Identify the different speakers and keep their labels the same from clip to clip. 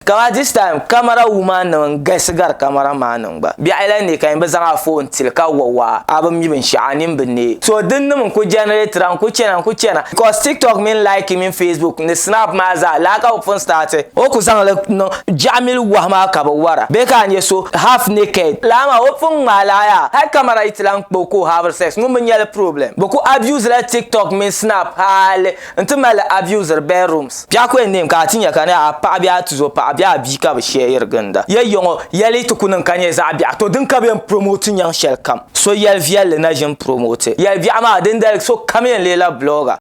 Speaker 1: Kamaa this time camera woman nim n galisi gari camera man nim gba biɛɣu yɛla neei ka yin bi zaŋ a phone tili ka wa waa a bi mi binshɛɣu a nin bi neei so din nim n ku generatira n ku chana n ku chana because tiktok mini like mini facebook ni snap maa zaa lala ka bi pun starti o ku zaŋ li niŋ biɛɣu mini wahu maa ka bi wara bee ka a nya so half naked lala maa o pun ŋmaai lala yaa hali camera yi ti lahi kpa o ka o haviri sex ŋun bi nyali problem bi ku abuse la tiktok mini snap hali N ti mali abusiri bedrooms. Biɛɣukwe n neem ka a ti nya ka ni a paɣa bee a tuzo paɣa bee a bia ka bɛ sheeri ginda ya yiŋɔ yɛli ti ku niŋ ka nyɛ zaɣ biɛɣu. To din ka bɛ yɛn promote nyaŋ shɛli kam. So yɛli viɛlli na ʒini promote yɛli biɛɣu maa dindali so kam yɛn leei la blogger.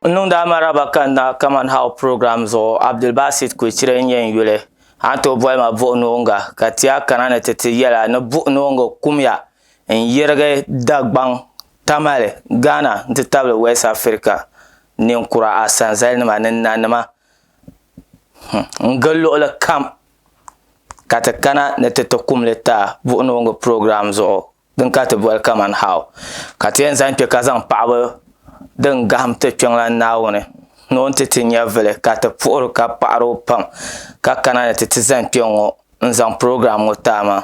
Speaker 1: N niŋdi a maraba ka n na Kaman How program zuɣu. Abdulbasit Kwecire n-nyɛ n yuli. A ni tooi boli ma Buɣu Noonga ka ti a kana ni ti ti yɛla ni Buɣu Noonga kumya. n yɛrigi Dagbaŋ Tamale, Ghana n-ti tabili West Africa ninkura asanzalinima ni nanima n-gili luɣili kam ka ti kana ni ti ti kum li taa buɣinooŋɔ program zuɣu din ka ti boli kaman how ka ti yɛn zaŋ kpe ka zaŋ paɣiba din gahim ti Kpiɔŋlan Naawuni ni o ni ti ti nyɛvili ka ti puhiri o ka paɣiri o pam ka kana ni ti ti zani kpɛŋɔ n-zaŋ program ŋɔ taai maa.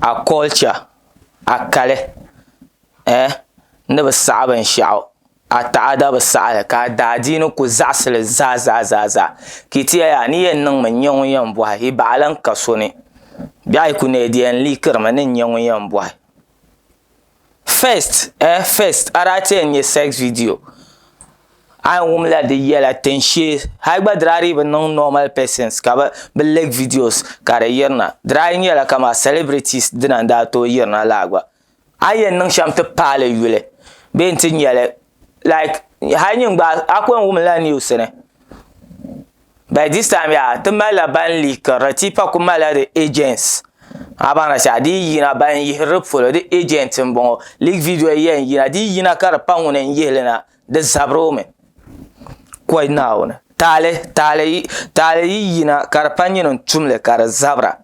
Speaker 1: a culture a kali eh ni bi saɣi binshaɣu a taɣada bi saɣi li ka a daadiini ku zaɣisi li zaa zaa zaa zaa ka yi ti yɛli yaa ni yɛn niŋmi n-nyɛ ŋun yɛn bɔhi yi baɣa lan ka so ni bɛh yi ku neei di yɛn liikirimi ni n-nyɛ ŋun yɛn bɔhi First eh first ara ti yɛn nyɛ sex video a yɛn wum la di yɛla tin shee hali gba dira di bi niŋ normal persons ka bi bi leak videos ka di yirina dira yi nyɛla kama celebrities dina n daa tooi yirina laa gba a ni yɛn niŋ shɛm ti paali yuli bee n ti nyɛli like hali nyin gba a ku yɛn wum la news ni By this time yaa ti malila ban likirili ti pa ku malila di agents a baŋda shɛli di yi yina ban yihiri di polo di agent n bɔŋɔ leak video yɛn yina di yi yina ka di pa ŋuni n yihili na di zabiri o mi kɔy naawuni taali taali yi yina ka di pa nyini n tumli ka di zabira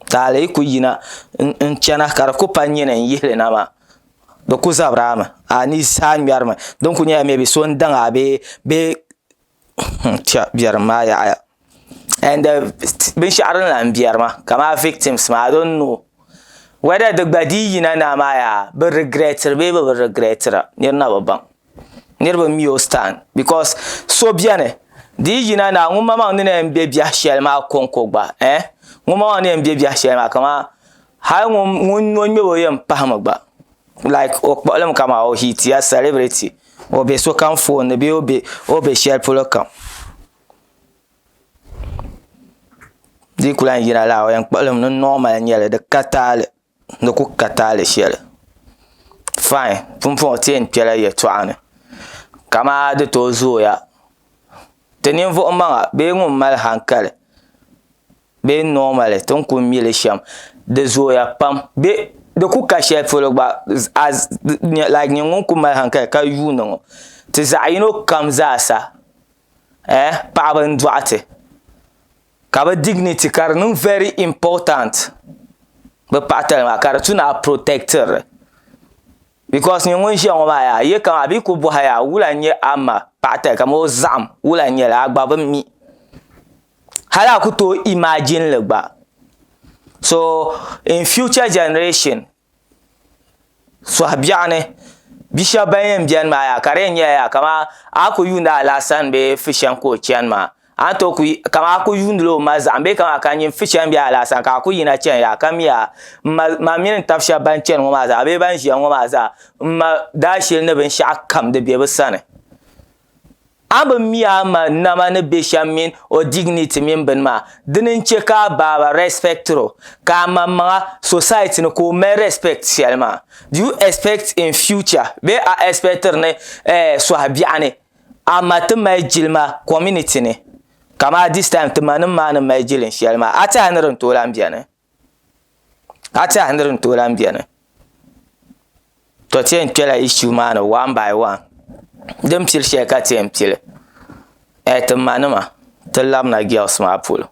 Speaker 1: taali yi ku yina n chana ka di ku pa nyini n yihili na maa Di ku zabira mi, a ni zaa ŋmɛri mi, din kuli nyɛla maybe so n-daŋ a bee biɛrim maa yaɣiya and binshɛɣu din lahi biɛri ma kamani victims maa I don't know whether di gba dii yina naa maa yaa bɛ regretira bee bɛ bi regretira niri na bi baŋ niriba mi o stand because so beni di yi yina naa ŋun maŋmaŋ ni na yɛn be biɛh shɛli maa kɔŋko gba eh ŋun maŋmaŋ ni yɛn be biɛh shɛli maa kamani Hali ŋun nyo ŋmɛb o yɛn pahimi gba like o kpuɣilimi ka maa o hit ya celebrity o be sokam phone ni bee o be shɛli polo kam di yi ku lahi yina la o yɛn kpuɣilimi ni normal n-nyɛli di ka taali di ku ka taali shɛli fine pumpɔŋɔ ti yɛn kpela yɛltɔɣa ni ka maa di tooi zooya ti ninvuɣ'maŋa bee ŋun mali hankali bee normally ti ni kuli mi li shɛm di zooya pam bee di ku ka shɛli polo gba like nyini ŋun kuli mali hankali ka yuuni ŋɔ ti zaɣ yino kam zaa sa ɛɛh paɣaba n dɔɣi ti ka bi dignity ka di niŋ very important bi paɣa tali maa ka di tu ni a protect ri li because nyini ŋun ʒiya ŋɔ maa yaa a yɛ ka a bee ku bɔhi yaa wula n nyɛ a ma paɣa tali kamani o zaɣim wula n nyɛli a gba bi mi hali a ku tooi imagine li gba so in future generation suhi biɛɣu ni bi shɛba ban yɛn bɛni maa yaha ka di yɛn nyɛla yaha kamani a ni ku yuuni Alasan bee Fushɛŋ ka o chani maa a ni tooi ku kamani a ku yuuni la o ma zahim bee kamani ka nyin Fushɛŋ bee Alasan ka a ku yina chani yaha ka mi yaha m ma ma mini n taba shɛba ban chani ŋɔ maa zaa bee ban ʒiya ŋɔ maa zaa m ma daashili ni binshɛɣu kam di be bɛ sani. A bi mi a ma nama ni be shem mini o dignity mini bini maa, dini n-che ka a baaba respectiri o, ka a maŋmaŋa, society ni, ka o mali respect sheli maa? Do you expect in future bee a expectiri ni eh sohi biɛɣu ni a ma ti mali jilima community ni? Kamaa this time ti ma nim maa ni mali jilin sheli maa, a tiɛhi ni di ni tooi lahi beni? ka ti yaha ni di ni tooi lahi biɛni to ti yɛn kpɛla ishu maa ni wan bai wan din pili shɛli ka ti yɛn pili ti ma nima ti labina gɛs maa polo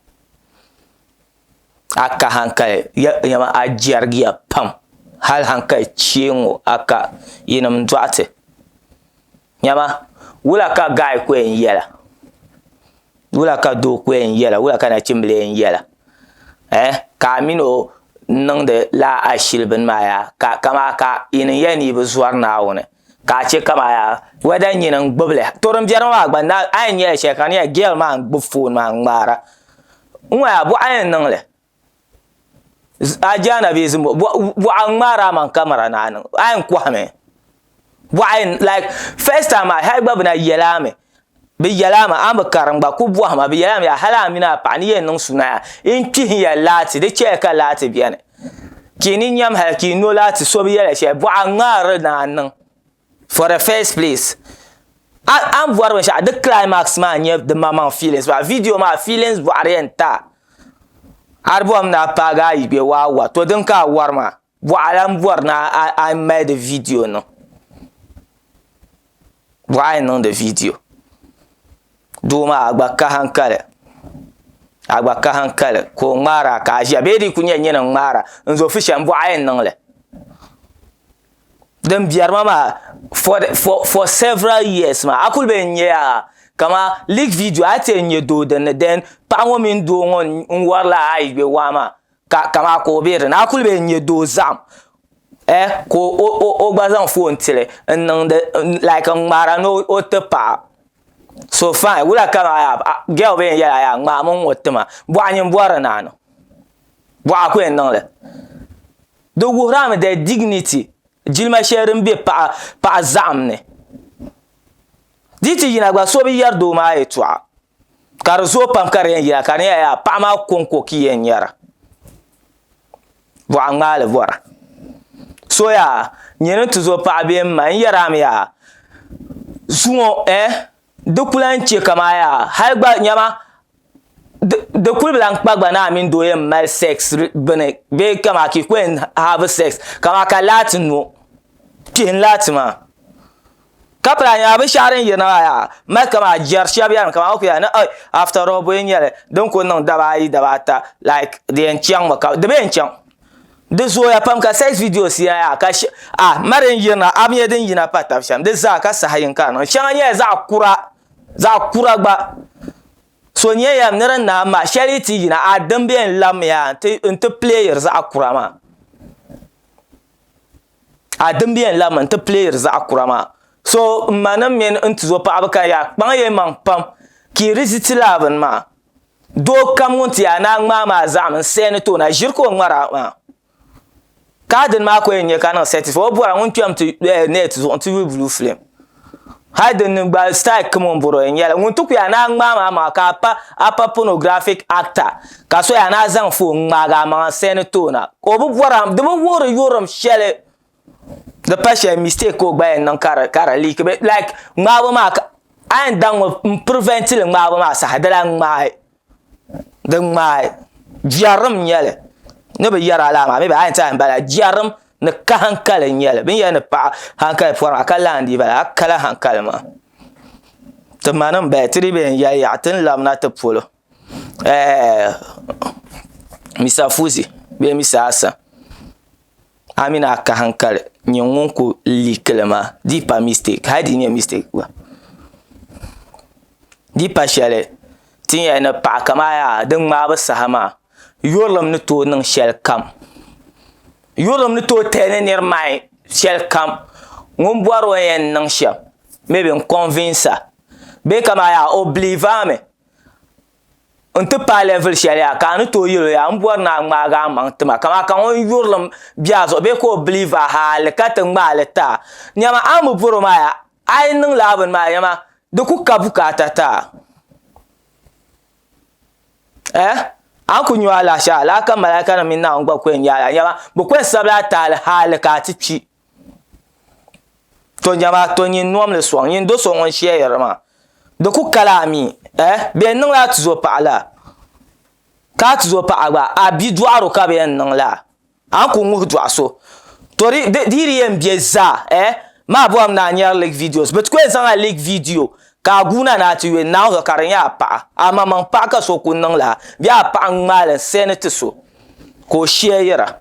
Speaker 1: a ka hankali niɛma a jɛrigiya pam hali hankali chɛ n ŋɔ a ka yinim doɣate Nyama wula ka gaɣi ku yɛn yɛla wula ka doo ku yɛn yɛla wula ka nachimbila yɛn yɛla ɛɛh ka a mini o niŋdi lala ashili bini maa yaa ka amaa ka yi niŋ yɛli ni yi bi zɔri Naawuni ka a chɛ kaman yaa wɛda nyini n-gbubi li to din biɛri ŋɔ maa gba a yɛn nyɛla shɛli ka di nyɛla girl maa n-gbubi foon maa n-ŋmaara n-ŋɔ yaa bɔɣa yɛn niŋ li. Ajaana bee zimbo bɔɣa n ŋmaari a maŋ kamara ni a niŋ a yɛn kɔhimi bɔɣa yɛn laik fɛs taim maa hali gba bi na yɛla a mi bi yɛla a mi a ni bi kara n gba ku bɔhima bi yɛla a mi yaa hali a mini a paɣa ni yɛn niŋ suna yaa n kpihi ya laati di chɛya ka laati bɛni ka yi ni nyam hali ka yi nyo laati so bi yɛli shɛli bɔɣa n ŋmaari ni a niŋ. for the first place a ni bɔri binshɛɣu di climax maa n-nyɛ di maŋmaŋ feelings maa video maa feelings bɔɣiri yɛn ta a di bɔri mi ni a paagi a yibe waa wa to din ka a wari maa bɔɣa lahi bɔri ni a mali di video niŋ bɔɣa yɛn niŋdi video doo maa a gba ka hankali a gba ka hankali ka o ŋmaara ka a ʒiya bee di yi kuli nyɛ nyini n-ŋmaara n-zo fu shɛm bɔɣa yɛn niŋ li din biɛrima maa for for for several years maa a kuli be n-nya yaa kaman leak video a yi ti yɛn nya doo din ni then paɣa ŋɔ mini doo ŋɔ n-wari la a ayigbe waa maa ka kamaa ka o be din ni a kuli be n-nya doo zahim ɛɛh ka o o o o gba zaŋ phone n-ti li n niŋdi like n ŋmaara ni o ti paɣa so fine wula ka maa yaa a girl be n yɛli a yaa ŋmaami n ŋɔ ti ma bɔɣa nyin bɔri naani bɔɣa ku yɛn niŋ li. Di wuhirami their dignity, jilima shɛli din be paɣa paɣa zaɣim ni. Di yi ti yina gba so bi yɛri doo maa yɛltɔɣa ka di zooi pam ka di yɛn yina ka di nyɛla yaha paɣa maa kɔŋko ka i yɛn nyara. Bɔɣa ŋmaali bɔra. So yaa nyini n-ti zo paɣa bee m-ma n-yɛrami yaa zuŋɔ ɛɛh. Di ku lahi chɛ ka maa yaa, hal gba nyama di kul bi lahi kpa gba ni a mini doo yɛn mali sex bini bee kamaa ka yi ku yɛn have sex kamaa ka laati nyo, kpihi n-laati maa. Ka pala a nya binshɛɣu din yirina maa yaa, mali kamaa jɛri shɛb yɛlimi kaman o ku yɛli ni ɛɛi after all bɔ yi nya li din ku niŋ daba ayi daba ata like di yɛn chaŋmi ka di bi yɛn chaŋ. Di zooya pam ka sex videos ya ya ka she a mari n yirina app nyɛ din yina pa tab shem di zaa ka saha yin ka niŋ sheŋa nyɛla zaɣa kura zaɣa kura gba so nyɛ ya ni din naai mahi sheli yi ti yina a din be n labi mi ya n ti n ti playiri zaɣa kura maa a din be n labi mi n ti playiri zaɣa kura maa so m ma nim mini n tuzo paɣaba ka ya kpaŋ ya maŋ pam ka yi di ti lala bini maa. Doo kam ŋun ti yaa naa ŋmaa maa zaɣim n seeni ti o na ʒiri ka o ŋmara maa ka a dini maa ko yɛn nyɛ ka niŋ sɛtifai o bɔra ŋun kpɛm ti nɛt zuɣu n ti yuui buluu filim hali dini gba sitayil kam o ni bɔra o yɛn nyɛla ŋun ti ku yaa naa ŋmaa maa maŋa ka a pa pɔnɔgrafik akta ka so yaa naa zaŋ foon ŋmaagi a maŋa n seeni ti o na ka o bi bɔra di bi wuhiri yurilim shɛli di pa shɛli mistake ka o gba yɛn niŋ ka di ka di leak be like ŋmaabo maa ka a yɛn daŋ mi n prevent li ŋmaabo maa saha di lahi ŋmaai di ŋmaai jɛrim n nyɛli ni bi yɛri a laa maa mi a yɛn ti a yɛn bala jɛrim ni ka hankali n nyɛli bini yɛli ni paɣa hankali pɔri maa ka lahi n dii bala hali kala hankali maa ti ma ni n bala ti dii bi yɛn yali yaɣa ti ni labina ti polo. Mista Fuzi bee Mista Hassan a mini a kahi n kali n nyɛ ŋun ku liikili maa di yi pa mistɛk hali di yi nyɛ mistɛk gba di yi pa shɛli ti ni yɛn ni paɣi kamani yaha din ŋmaabu saha maa yurilim ni tooi niŋ shɛli kam yurilim ni tooi tali ni niri maayi shɛli kam ŋun bɔri o ni yɛn niŋ shɛm mɛbi n kɔnvinsa bee kamani yaha o biliiva mi n ti paai level shɛli yaa ka a ni tooi yɛl o yaa m bɔri ni a ŋmaagi a maŋ tima ka amaa ka ŋun yurilim be a zuɣu bee ka o believe a hali ka ti ŋmaai li ti a nyama a ni bi bɔri o maa yaa a yi niŋ lala bini maa nyama di ku ka bukaata ti a ɛɛh a ni ku nya o alahichi a lala ka malaika nim mini Naawuni gba ku yɛn nya a lala nyama bɛ ku yɛn sabila a tahali hali ka a ti kpi to jama to nyin nom li sɔŋ nyin do so ŋun shɛyiri ma di ku kala mi eh bɛ yɛn niŋla a tizo paɣa la ka a tizo paɣa gba a bidɔɣiro ka bɛ yɛn niŋ la a ni ku ŋuhi dɔɣi so to di di di yɛn be zaa eh maa bɔrimi ni a nyari leak videos bɛ ti ku yɛn zaŋla leak video ka a guuna ni a ti yuli naawuni zuɣu ka di nyɛ a paɣa amaŋmaŋ paɣa ka so ku niŋ la bee a paɣa n-ŋmaai li n-sɛni ti so ka o shɛyira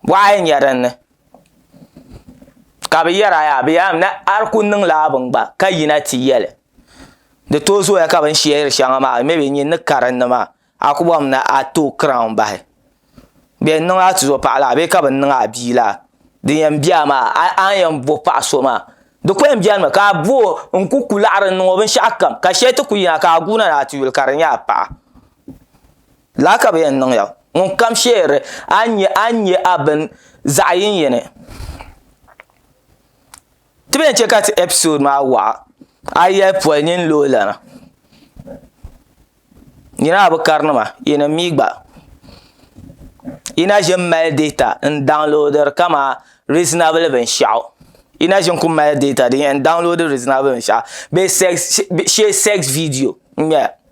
Speaker 1: Bɔɣa n-nyɛ din ni, ka bɛ yɛri a yaa, bɛ yaa mi ni a ku niŋla a bini gba ka yina ti yɛli, di tooi zooya ka bini shɛri shɛŋa maa mi bɛ nyin ni karinli maa, a ku bɔrimi ni a ti o crown bahi. Bɛ yɛn niŋ a tizɔpaɣ laa bee ka bɛ niŋ a bia laa? Din yɛn be a maa, a ni yɛn bo paɣ so maa, di ku yɛn benimi ka a bo o n-ku ku laɣiri n-niŋ o binshɛɣukam, ka shɛli ti ku yina ka a guui na ni a ti yuli ka di nyɛ a paɣa. Lala ka bɛ yɛn niŋ ya, ŋunkam sheeri a ni nya a ni nya a bini zaɣ yini yini. Ti bɛn chɛ ka ti episode maa waɣa, a yɛli poli nini lo lana. Nyini a bi karinima, yi ni mi gba. Yi na ʒini mali data n-downloadiri kaman reasonable binshɛɣu. Yi na ʒini kul mali data din yɛn download reasonable binshɛɣu bee sex, shee sex video n-nyɛ ya.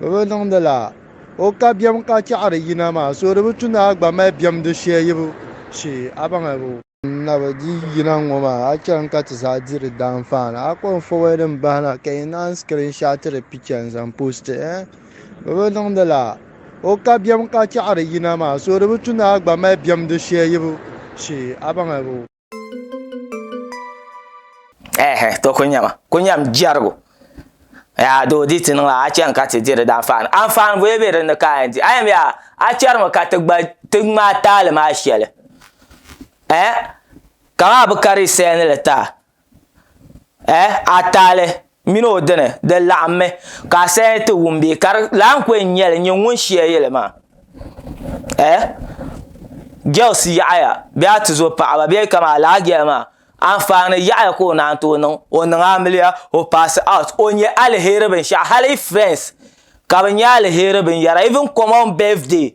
Speaker 2: Bɛ bi niŋdi la o ka biɛm ka chɛɣiri yina maa, so di bi tu ni a gba mali biɛm di shɛyibu shee, a baŋabu. N na bi di yina ŋ-ŋɔ maa, a chani ka ti zaa di di daanfaani. A kɔŋ fɔbɔyi din bahi na ka yi naan skirinshaatiri picha n-zaŋ poosti, eh? Bɛ bi niŋdi la o ka biɛm ka chɛɣiri yina maa, so di bi tu ni a gba mali biɛm di shɛyibu shee, a baŋabu.
Speaker 1: ehe to ku nyɛma ku nyɛm jɛrigu yaa doo di ti niŋ a chɛŋ ka ti diri di anfaani anfaani bɔli bɛ dinni ka a yɛn di a yɛn yaa a chɛrimi ka ti gba ti ŋmaai taali maa shɛli eh kamani a bi ka di salini li taa eh a taali mini o dini di laɣimmi ka asali ti wum bee ka di lan ku yɛn nyɛli n-nyɛ ŋun shia yɛli maa eh girls yaɣiya bee a ti zo paɣaba bee kaman alaha girl maa anfaani yaɣiya ka o naan tooi niŋ o niŋ amiliya o paasi out o nyɛ aliheri binshɛɣu hali friends ka bɛ nyɛ aliheri binyɛra even common birthday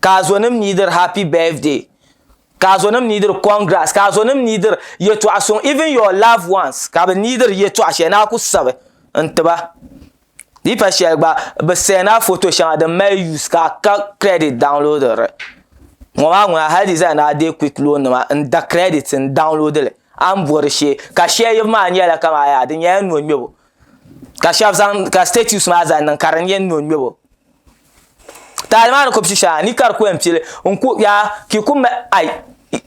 Speaker 1: ka azonim ni dir happy birthday ka azonim ni dir congrats ka azonim ni dir yɛtɔɣa suŋ even your loved ones ka bɛ ni dir yɛtɔɣa shɛli ni a ku sabi n tiba di yi pa shɛli gba bɛ send a photo shɛŋa din mali use ka a ka credit download li ŋɔ maa ŋuna hali di zaa ni a deei quick loan nima n da credit n download li a ni bɔri shee ka shɛli yibu maa nyɛla kamani yaa di nyɛla nɔŋmɛbo ka shɛba zaŋ ka status maa zaŋ niŋ ka di nyɛ nɔŋmɛbo. Taali maa ni ku pishi a ni ka di ku yɛn pili n ku yaa ki ku ma ai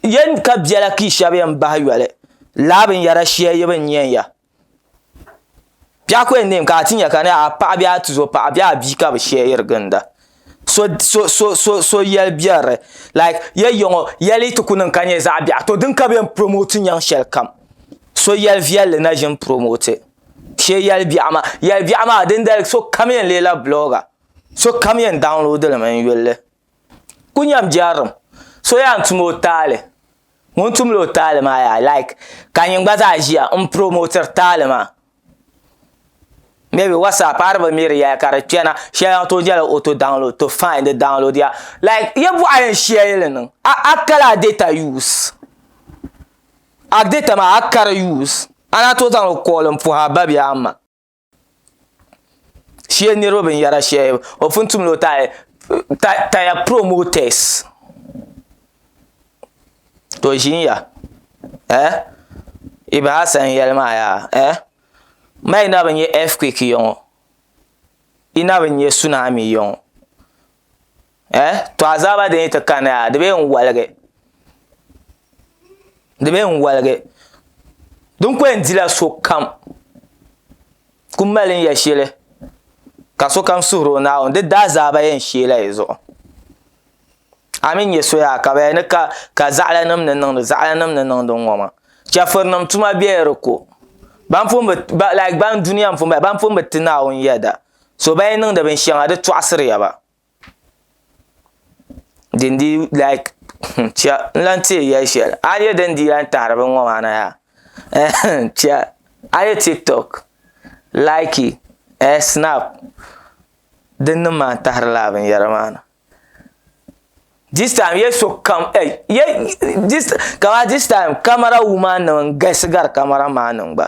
Speaker 1: yɛn ka biɛla ki shɛba yɛn bahi yoli laa binyɛra shɛli yi bi nya ya biɛɣu ku yɛn neemi ka a ti nya ka a paɣa bee a tuzo paɣa bee a bia ka bi shɛrigi ginda so so so so yɛli biɛrili laik ya yiŋɔ yɛli yi ti ku niŋ ka nyɛ zaɣ biɛɣu to din ka bi yɛn puromooti nyaŋ shɛlikam so yɛli viɛlli na ʒini puromooti Shee yɛli biɛɣu maa yɛli biɛɣu maa dindali sokam yɛn leela blogger sokam yɛn download li mi n yulli ku nyɛm jɛrilim so yɛn tum o taali ŋun tumdi o taali maa yaa like ka nyin gba zaa ʒiya n promotiri taali maa maybe whatsapp a di bi mi di yɛla ka di kpɛna shɛli n tooi nyɛla auto download to fine di download ya like yi bɔɣu yɛn shɛli li niŋ a kali a data use A di tam a kari yuus, a na tooi zaŋ o kooli m-puhi a ba bee a ma. Shee niriba binyɛra shɛhi o pun tum ni o taai taya promoters to ʒiya eh yi bahi a sani yɛli maa yaa eh ma yi na bi nya earthquake yɔŋɔ yi na bi nya tsunami yɔŋɔ. Eh, to azaaba din yi ti kani a, di bee n-waligi. Di bee n-waligi. Din ko yɛn dila sokam. Ku mali n-ya shili, ka sokam suhiri o Naawuni, di daa azaaba yɛn sheela yi zuɣu. A mi nya soya ka bɛ ni ka, ka zaɣilanim ni niŋdi, zaɣilanim ni niŋdi ŋ-ŋɔ maa. Chɛfurinim tuma bɛ di ko. Ban pun bi, like ban dunia m-pun bala, ban pun bi ti Naawuni yɛda, so bɛn yi niŋdi binshɛŋa di tɔɣisiriya ba. din di like chia n lan teei yɛli shɛli a ni yɛ din di yɛn tahiri bin ŋɔ maa na yaa chia a yɛ tiktok laiki snap din niŋ maa n tahiri lala binyɛra maa na this time yɛ sokam kamani this time kamara wuman nim n galisi gari kamara maa ni gba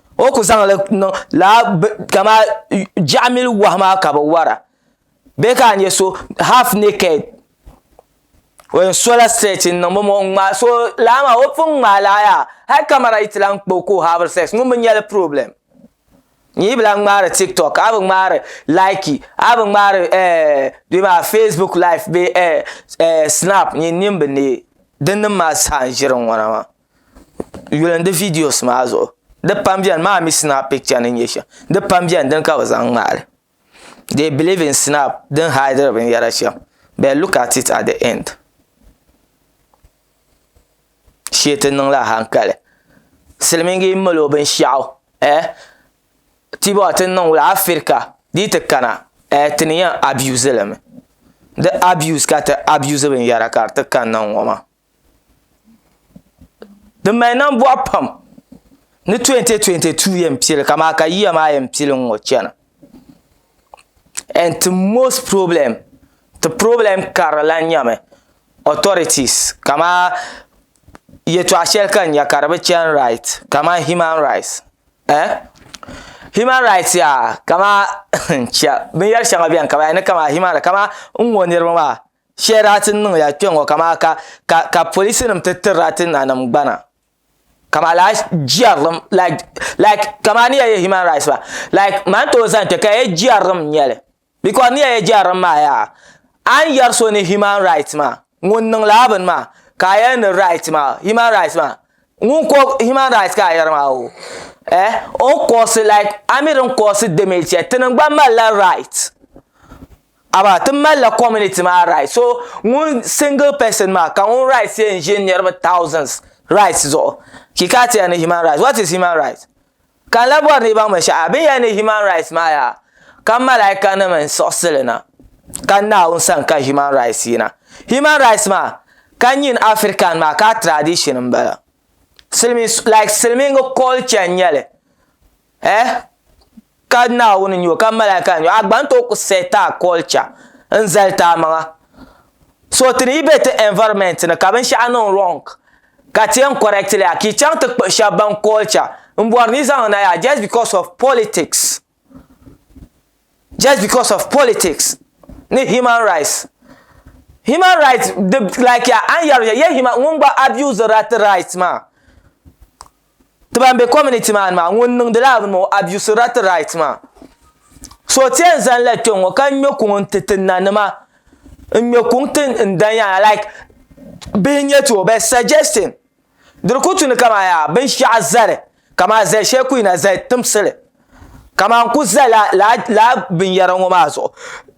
Speaker 1: o ku zaŋli niŋ laa kama jaɣamili wahi maa ka bi wara bee ka a nyɛ so half naked o yɛn sola stretch n niŋ bomo n ŋmaai so laa maa o pun ŋmaai laa yaa hali kamɛra yi ti lahi kpa o ka o haaviri sex ŋun bi nyɛli problem n yi bi lahi ŋmaari tiktok a bi ŋmaari likey a bi ŋmaari facebook live bee snap nyin nini bi neei din nim maa zaa n ʒiri n ŋona maa yuli n di viidiyos maa zuɣu di pam biɛni maa mii sinap picha ni n nyɛ shɛm di pam biɛni dini ka bi zaŋ ŋmaali dee biliiv in sinap din haidiri binyɛra shɛm bɛn luk at it at di ɛnd shee ti niŋla hankali silmiingi n mali o binshaɣu tibɔɣu ti ni niŋ wula afirika di yi ti kana ti ni yɛn abiyuuzi limi di abiyuuz ka ti abiyuuzi binyɛra ka di ti kanna n ŋɔ maa Di mali nambɔɣu pam ni 2022 yɛn pili ka maa ka yiya maa yɛn pili n-ŋɔ chana and ti most problem ti problem karili lan nyɛmi authorities kamaa yɛtɔɣ shɛli ka n nya ka di bi chani right kaman human rights ɛɛh human rights yaa kamaa n-chɛ binyɛr shɛŋa beni ka ban yɛli ni kaman human rights kaman n-ŋɔ niriba maa Shɛra ti niŋ ya kpɛŋɔ ka maa ka ka ka polisi nim ti tirila ti nanim gbana ka maa laa jɛrilim like like ka maa ni ya yɛ human rights la like maa ni tooi zani kpɛ ka yɛ jɛrilim n nyɛli because ni ya yɛ jɛrilim maa yaa a ni yɛri so ni human rights maa ŋun niŋ laa bini maa ka a yɛli ni rights maa human rights maa ŋun ko human rights ka a yɛri maa o eh o ni kosi like a mi di ni kosi damage shɛli tinim gba mali la rights. Amaa ti malila community maa rights so ŋun single person maa ka ŋun rights yɛn ʒe niriba thousands rights zuɣu ki ka ti yɛn ni human rights what is human rights ka n lahi bɔri ni yi baŋ binshɛɣu bini yɛn ni human rights maa yaa ka malaaikanim n siɣisi li na ka Naawuni sani ka human rights yina human rights maa ka nyin African maa ka a tradition m bala silimiin like silimiingi culture n nyɛli Eh? Ka Naawuni nyo ka malaika nyo, a gba ni tooi ku seh ti a culture n-zali ti a maŋa. So ti ni yi be ti environment ni ka binshɛɣu niŋ wrong ka ti yɛn correct li ya, ka yi chaŋ ti kpuɣi shɛba ban culture m-bɔri ni yi zaŋ na ya just because of politics, just because of politics ni human rights. Human rights di like ya a ni yɛri ya, yɛ human ŋun gba abuse-ri a ti rights maa. ti ban be community maa ni maa ŋun niŋdi lala bini maa o abuse la ti right maa so ti yɛn zani la kpe ŋɔ ka ŋme kuŋ n ti ti n nanima n ŋme kuŋ ti n danyana like bihi nyɛ ti o bɛ suggesting di di ku tu ni kaman yaa binshɛɣu zali kaman zali shɛli ku yina zali timsili kaman n ku za la lala binyara ŋɔ maa zuɣu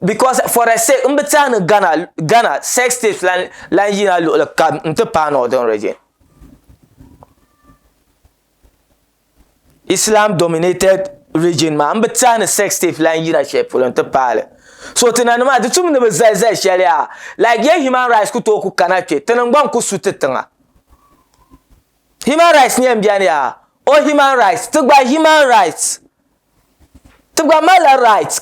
Speaker 1: because for the sake m bi ti a ni Ghana sex tapes lan yina luɣili kam n ti paai northern region. islam dominated region maa n bi tiɛhi ni sex tape lan yina shɛli polo n ti paali so ti nanima di tum ni bi zali zali shɛli yaa like ye human rights ku tooi ku kana kpɛ ti niŋgbaŋ ku su ti tiŋa human rights nyɛla n bɛni yaa o human rights ti gba human rights ti gba malila rights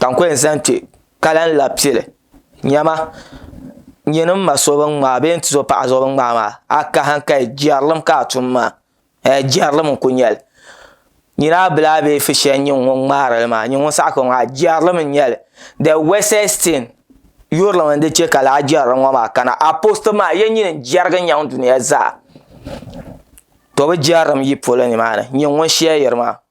Speaker 1: ka n ku yɛn zaŋ kpɛ ka lahi labi pili niɛma n nyɛ ni n ma so bin ŋmaai bee n tuzo paɣa so bin ŋmaai maa a kahi n kahi jɛrilim ka a tum maa hee jɛrilim n ku nyɛli nira bili a bee fishɛl n nyɛ ŋun ŋmaarili maa n nyɛ ŋun saɣa kpɛŋɔ maa jɛrilim n nyɛli de wɛsɛs tin yurilim n di chɛ ka laa jɛrilim ŋɔ maa kana apoostu maa yɛn nyini n jɛrigi nyaŋ duniya zaa to bi jɛrilim yi polo nimaani n nyɛ ŋun shɛyiri maa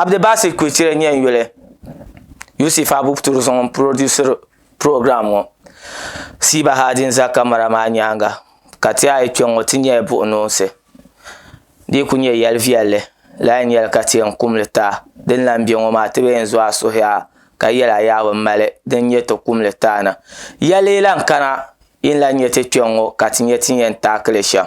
Speaker 1: abdibasi kuchira nyɛ n yuli yusuf abubturi zuŋ n purodusiri piroogiraamu ŋɔ siiba ha din ʒɛ kamɛra maa nyaanga ka ti yaha yi kpɛ ŋɔ ti nyɛla buɣunosi di ku nyɛ yɛli viɛlli lala n nyɛli ka ti yɛn kumli taa din lahi bɛ ŋɔ maa ti bi yɛn zo a suhuya ka yɛli a yaa bi mali din nyɛ ti kumli taa na yɛli lahi kana yi ni lahi nyɛ ti kpɛ n ŋɔ ka ti nyɛ ti ni yɛn taakili shɛm